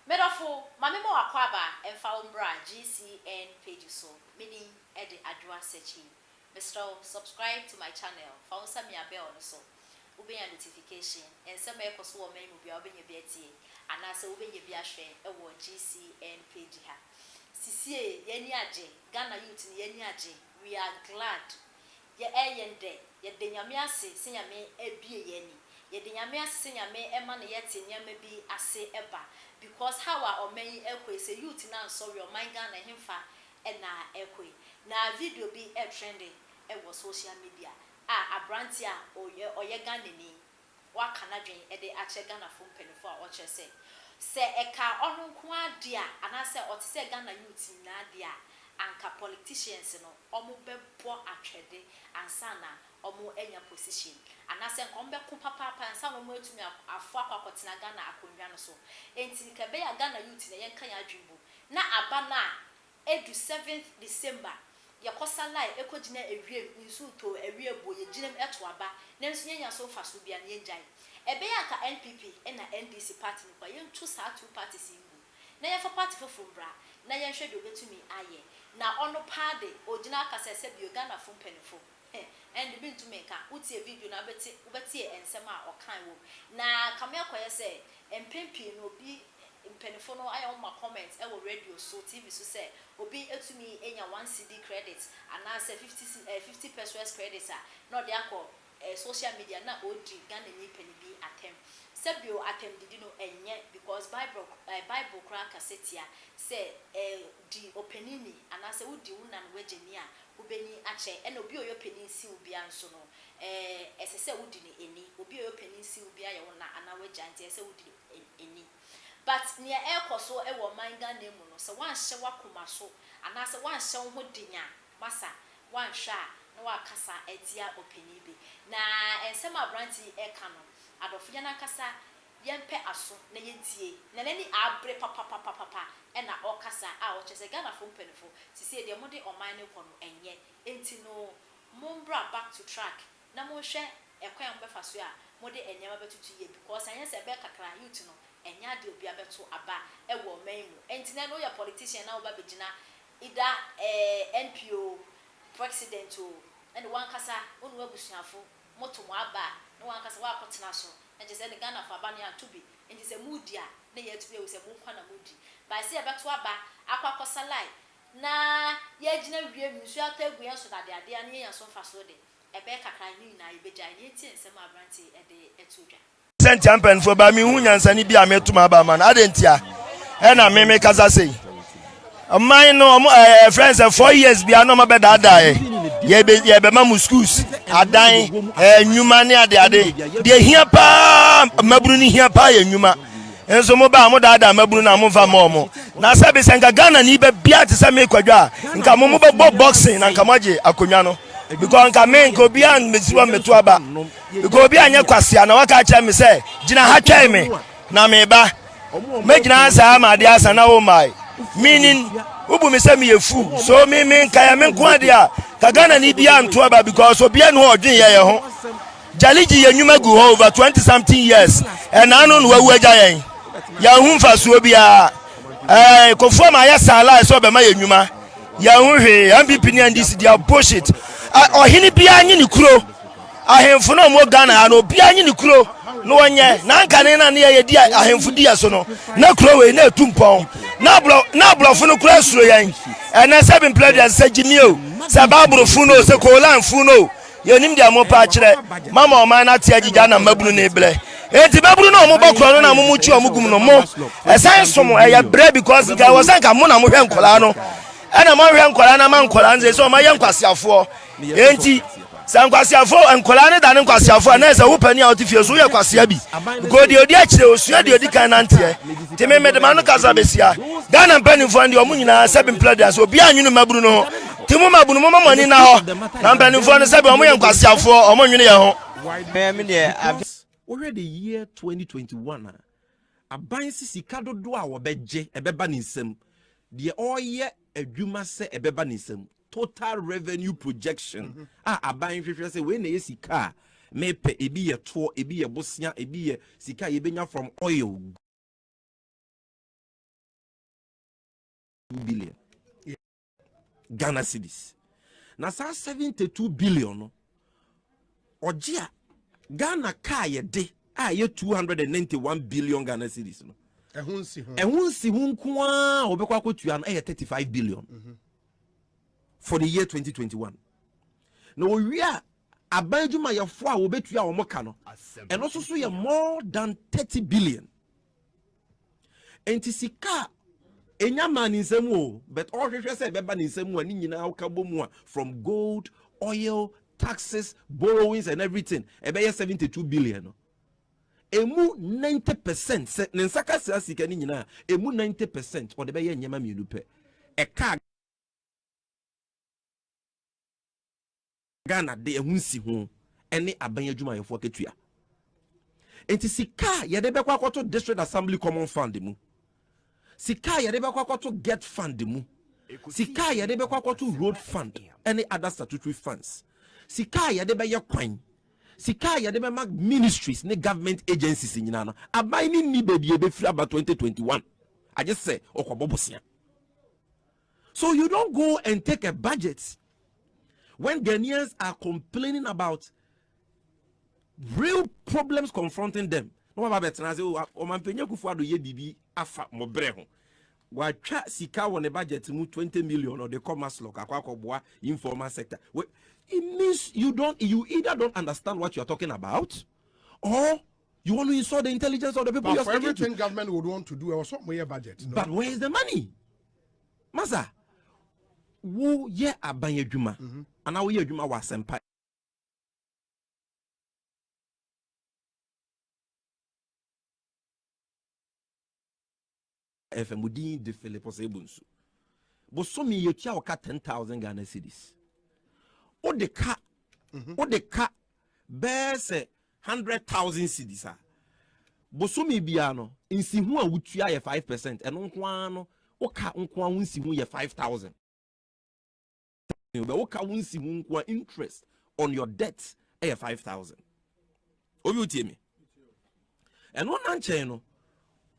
Me dɔfo, ma me ma w'akwaaba mfa wo mbra GCN page so, me din de Adwoa Sekyi. Mesrɛ wo subscribe to my channel, fa wo nsa mia bell no so, wo bɛnya notification, nsɛm a ɛkɔ so wɔ ɔman mu biara wo bɛnya bi atie, anaa sɛ wo bɛnya bi ahwɛ wɔ GCN page ha. Sisiei yɛn ani agye, Ghana youth no yɛn ani agye, we are glad, Yɛ ɛ yɛn dɛ yɛ da Nyame ase sɛ Nyame ɛ bie yɛ ani. Yɛ da Nyame ase sɛ Nyame ɛ ma no yɛ te nneɛma bi ase ɛ ba. Because how a ɔman yi ɛ kɔ yi sɛ youth no ansɔre ɔman Ghana ɛhenfa ɛ na ɛ kɔ yi. Na video bi ɛ trende ɛ wɔ social media a abranteɛ a ɔyɛ Ghanani waka n'adwen de akyerɛ Ghanafo mpanyimfo a ɔkyerɛ sɛ, sɛ ɛkaa ɔno nko ara de a anaasɛ ɔte sɛ Ghana youths nyinaa de a, anka politicians no wɔbɛbɔ atwɛde ansa na wɔanya position, anaasɛ anka wɔbɛko papaapa ansa na wɔatumi aforo akɔ akɔtena Ghana akonnwa no so. Enti nka ɛbɛyɛ a Ghana youths na yɛnka yɛn adwen bu na aba no a Edu seventh December, yɛkɔ Salai ekogyina ewiem, nsu tɔ o, ɛweɛ bu o, yegyina mu ɛto aba, nanso yɛnnya so mfaso biara na yɛngyae. Ɛbɛyɛ a anka NPP na NDC party no kɔ a, yɛnto saa two parties yi ngu na yɛmfa party foforo mbra na yɛnhwɛ deɛ obetumi ayɛ. Na ɔno paa de, ogyina akasa sɛ bio Ghanafo mpanyinfo. Heh, ɛnde mentumi nka. Wotie video no a, wobɛte, wobɛte nsɛm a ɔkae wom. Na kame akɔyɛ sɛ, mpɛn pii no, obi, mpanyimfo no ayɛ wɔn ma comment wɔ radio so, TV so sɛ, obi tumi nya one cedi credit anaasɛ fifty ce, eh, fifty pesewas credit a, na ɔde akɔ, eh, social media na ɔredi Ghanani panin bi atɛm. Sɛ bio, atɛmdidi no, ɛnyɛ, because Bible, eh, Bible koraa kasa tia sɛ, eh, di ɔpanin ni, anaasɛ wodi wo na ne w'agya ni a, Obenyin akyɛ ɛna obi a ɔyɛ ɔpanyin sen wo biara nso no, ɛɛ, ɛsɛ sɛ wodi no ani. Obi a ɔyɛ ɔpanyin sen wo biara yɛ wo na anaa w'agya nti ɛsɛ sɛ wodi no ani. But nea ɛrekɔ so wɔ ɔman Ghana mu no, sɛ woanhyɛ w'akoma so anaasɛ woanhyɛ wo ho den a, masa, woanhwɛ a na woakasa atia ɔpanyin bi. Na nsɛm a aberante yi reka no, adɔfoyɛ no ankasa Yɛmpɛ aso na yɛntie. Na n'ani abere papapapapa na ɔrekasa a ɔkyerɛ sɛ Ghanafoɔ mpaninfoɔ seisei deɛ mode ɔman no rekɔ no ɛnyɛ nti no mombra back to track na monhwɛ ɛkwan a mobɛfa so a mode nneɛma bɛtoto yie because anyɛ saa ɛbɛyɛ kakra youth no ɛnyɛ adeɛ a obiara bɛto aba wɔ ɔman yi mu nti na ɛnɛ woyɛ politician na woba bɛgyina either ɛɛ MP oo, President oo ɛne wankasa wone w'abusuafo. Moto mo aba a, na wanka sɛ wakɔtena so. Na kyerɛ sɛ ɛne Ghanafo aba no yɛanto bi. Enti sɛ modi a, na yɛatumi ahu sɛ mo nkwa na modi. But sɛ yɛbɛto aba akɔ akɔsalae na yɛagyina wiem, nsuo atɔ agu yɛn so na adeadeɛ a na yɛanya so mfasoɔ de, ɛbɛyɛ kakra a, ne nyinaa yɛbɛgyae. Nea enti a nsɛm a aberante yi de to dwa. Sɛ ntia mpanyinfoɔ baa mi hu nyansani bi a mi to ma ba ma no adi ntia ɛna mi mi kasa sei ɔman no ɔmo ɛɛ eh, friends eh, four years bia na ɔmo bɛ daadaa yɛ yɛ bɛ yɛ bɛ ma mo schools adan ɛɛ eh, nnwuma ne ade ade deɛ hia paa mmabunu ne hia paa yɛ nnwuma nso mo ba mo daadaa mmabunu na mo nfa mo ɔmo na sɛ bi sɛ nka ghana ni bɛ bia te sɛ mi kwadwa a nka mo mo bɛ bɔ boxing na nka mo agye akonnwa no because nka mi nka obiara mbesi hɔ mmeto aba. Mekɔɔ obi a nyɛ kwasea na waka akyerɛ me sɛ, Gyina ha twɛn me, na mereba. Mɛgyina ha saa ma adeɛ asa na wommae. Meaning, wobu me sɛ meyɛ fool. So me me nka yɛ me nko adeɛ a, ka Ghanani biara nto aba because obiara nni hɔ a ɔdwen yɛ yɛ ho. Jali gye yɛn nnwuma gu hɔ over 20 something years. Ɛna ano na wawu agya yɛn. Yɛanhu mfasoɔ biara. Ɛɛ, Kofoɔ ma ayɛ saa lie sɛ ɔbɛma yɛn nnwuma. Yɛanhu hwee. NPP ne NDC deɛ bullshit. Ɔhene biara nye ne kuro. Ahemfo no a wɔwɔ Ghana ha no, obiara nye ne kuro na ɔnyɛ. Na anka ne na ne yɛyɛ di ahemfo di yɛ so no, na kuro wei na etu mpɔn. Na aborɔ, na aborɔfo no koraa suro yɛn. Ɛnnɛ sɛ bi mpena dua sɛ gyimie o, sɛ Bible funu o, sɛ Koran funu o, yɛnnim deɛ mopɛ akyerɛ. Moama ɔman no ate agyigya na mmabunu no rebrɛ. Enti babunu no a wɔbɔ korɔ no na mo mo kyi wɔn gu mu no, mo, ɛsan so mo, ɛyɛ brɛ because nka ɛwɔ sɛ nka mo na mohwɛ nkwadaa no ɛna moanhwɛ nkwadaa no ama nkwadaa no seesei wɔayɛ nkwaseafoɔ. Enti, sɛ nkwaseafo nkwadaa no da no nkwaseafo a, na ɛsɛ wo panin a ɔte fie so woyɛ kwasea bi. Because deɛ ɔdi akyire, ɔsua deɛ ɔdi kan nanteɛ. Nti me mede m'ano kasa bɛsia. Ghana mpanimfoɔ no deɛ wɔn nyinaa sɛbi mpla deɛ ase, obiara nwene mmabunu no ho. Nti mo mmabunu momma mo ani nna hɔ. Na mpanimfoɔ no sɛbi wɔn yɛ nkwaseafoɔ, wɔn nwene yɛn ho. Because wohwɛ the year 2021 a, aban se sika dodoɔ a wɔbɛgye ɛbɛba ne nsam, deɛ ɔreyɛ adwuma sɛ ɛbɛba ne nsam. total revenue projection mhm. a aban hwehwɛ sɛ wei na ɛyɛ sika a mepɛ ebi yɛ toɔ ebi yɛ bosea ebi yɛ sika a yɛbɛnya from oil billion ghana cedis na saa 72 billion no ɔgye a ghana kaa yɛde a yɛ 291 billion ghana cedis no ɛho nsi ho nko a wɔbɛkɔ akɔtua no ɛyɛ 35 billion mm -hmm. for the year 2021 na wɔwie a aban adwumayɛfoɔ a wɔbɛtua wɔn ka no ɛno nso so yɛ more than 30 billion nti sika a ɛnya maa ne nsam o but ɔhwehwɛ sɛ ɛbɛba ne nsam a ne nyinaa woka bɔ mu a from gold oil taxes borrowings and everything ɛbɛyɛ 72 billion no Emu ninety percent, sɛ ne nsa ka saa sika no nyinaa a, emu ninety percent ɔde bɛyɛ nneɛma mmienu pɛ. Ɛkaa Ghana de ɛho nsi ho ne aban adwumayɛfoɔ akatua. Enti sika a yɛde bɛkɔ akɔto District Assembly Common Fund mu sika a yɛde bɛkɔ akɔto get fund mu sika a yɛde bɛkɔ akɔto road fund ne other statutory funds sika a yɛde bɛyɛ kwan sika a yɛde bɛma ministries ne government agencies nyinaa no aban ne nni baabi ɛbɛfiri aba 2021 agye sɛ ɔkɔbɔ bosea so you don't go and take a budget when Ghanaians are complaining about Real problems confronting them na wɔaba abɛtena ase o ɔmanpanyin akufo ado yɛ biribi afa mo bere ho watwa sika wɔ ne budget mu twenty million ɔde kɔ maslok akɔ akɔboa informal sector well, it means you don't you either don't understand what you are talking about or you want to insult the intelligence of the people but you are speaking to. But for everything government would want to do ẹ wọ sọ mo yẹ budget. No? But where is the money? Masa wo yẹ aban adwuma mm-hmm. anaa wo yẹ adwuma wọ asẹmpa. ɛfɛ mo din de philip ɔsɛ ebu nsu bosomi yɛ tua ɔka ten thousand ghana cedis o de ka mhm. o de ka bɛɛ sɛ hundred thousand cedis a bosomi biara no nsihu a wotua yɛ five percent ɛno nko ara no o ka nko ara ho nsihu yɛ five thousand. thousand bɛ wo ka wo nsi ho nko a interest on your debt ɛyɛ five thousand obi wotie me ɛno na nkyɛn no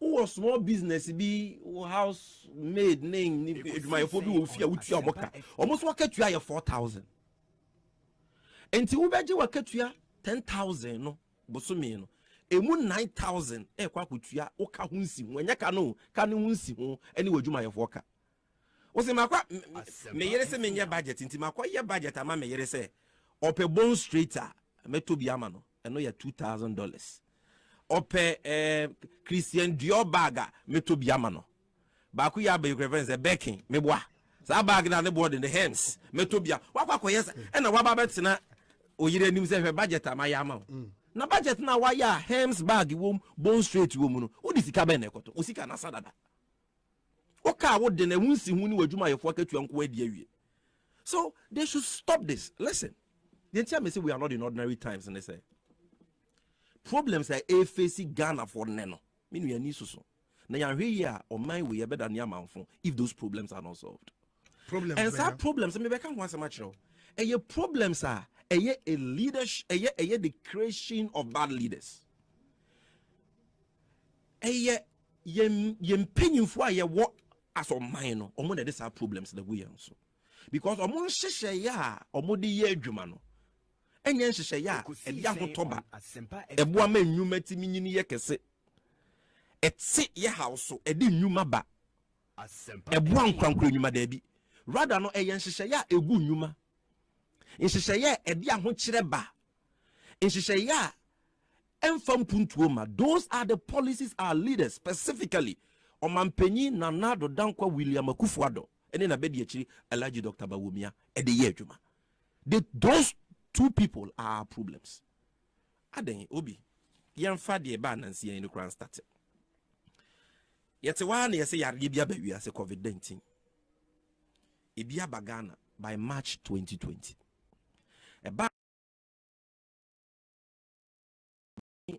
wowɔ small business bi wo house maid ne adwumayɛfoɔ bi wɔ fie a wotua wɔn ka wɔn nso wɔka tua yɛ four thousand nti wobɛgye wakatua ten thousand no bosome no emu nine thousand ɛkɔ akɔtua woka ho nsi ho ɛnyɛ ka no ka ne ho nsi ho ɛne w'adwumayɛfoɔ ka wɔsi makɔ me yere sɛ menyɛ budget nti makɔ yɛ budget ama me yere sɛ ɔpɛ bone straight a mɛtɔ bi ama no ɛno yɛ two thousand dollars ɔpɛ ɛɛ eh, christian dior bag a mɛtɔ bi ama no baako yɛ abɛyi kura fɛn sɛ bɛkin meboa saa bag na ne boɔ de ne hands mɛtɔ bi a wakɔ akɔyɛ sɛ ɛna waba bɛtena oyere anim sɛ hwɛ budget a mayɛ ama wo mm. na budget na wayɛ a hands bag wɔm bone straight wɔm no wode sika bɛn na ɛkɔtɔ wo sika na asa dada wokaa wo de no ɛho nsi ho ne w'adwumayɛfoɔ akatua nko adi awie so they should stop this listen deɛ nti a mese we are not in ordinary times ne sɛ problems a ɛfɛsi ghanafoɔ nnɛ no me nuani soso na yɛahwɛ yi a ɔman wei yɛbɛda ne amanfo if those problems are not solved problems and saa problems mebɛka ho asɛm akyerɛ wo ɛyɛ problems a ɛyɛ a leadership ɛyɛ ɛyɛ the creation of bad leaders ɛyɛ Yɛn yɛn mpanyinfoɔ a yɛwɔ as ɔman no, wɔn na ɛde saa problems na gu yɛn so because wɔn nhyehyɛeɛ a wɔde yɛ adwuma no ɛnyɛ nhyehyɛeɛ a ɛde ahotɔ ba ɛboa ma nnwuma tumi nyini yɛ kɛse ɛte yɛ haw so ɛde nnwuma ba ɛboa nkorankora nnwuma daabi rather no ɛyɛ nhyehyɛeɛ a ɛgu nnwuma nhyehyɛeɛ a ɛde ahokyerɛ ba nhyehyɛeɛ a Ɛmfa mpuntuo mma, those are the policies our leaders, specifically Ɔmanpanyin Nana Addo Dankwa William Akuffo Addo ne n'abadiakyiri Alhaji Doctor Bawumia de yɛ adwuma. They, those two people are our problems. Adɛn, Obi, yɛmfa deɛ ɛbaa nansia yi no koraa nstate. Yɛte hɔ ara na yɛsɛ yareɛ bi aba wiase, COVID-19. Ebi aba Ghana by March 2020. Ɛba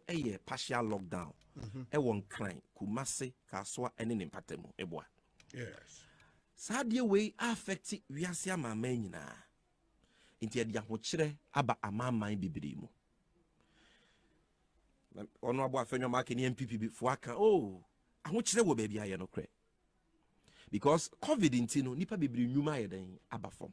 yɛ partial lockdown mhm. wɔ nkran kumase kasoa ne ne mpata mu ɛboa saa adeɛ wei affect wiase amanaman nyinaa nti ɛde ahokyerɛ aba amanaman bebree mu ɔno abɔ afɛnwam aka ne npp bi fo aka o oh, ahokyerɛ wɔ baabi ayɛ no korɛ because covid nti no nipa bebree nnwuma ayɛ dɛn aba fam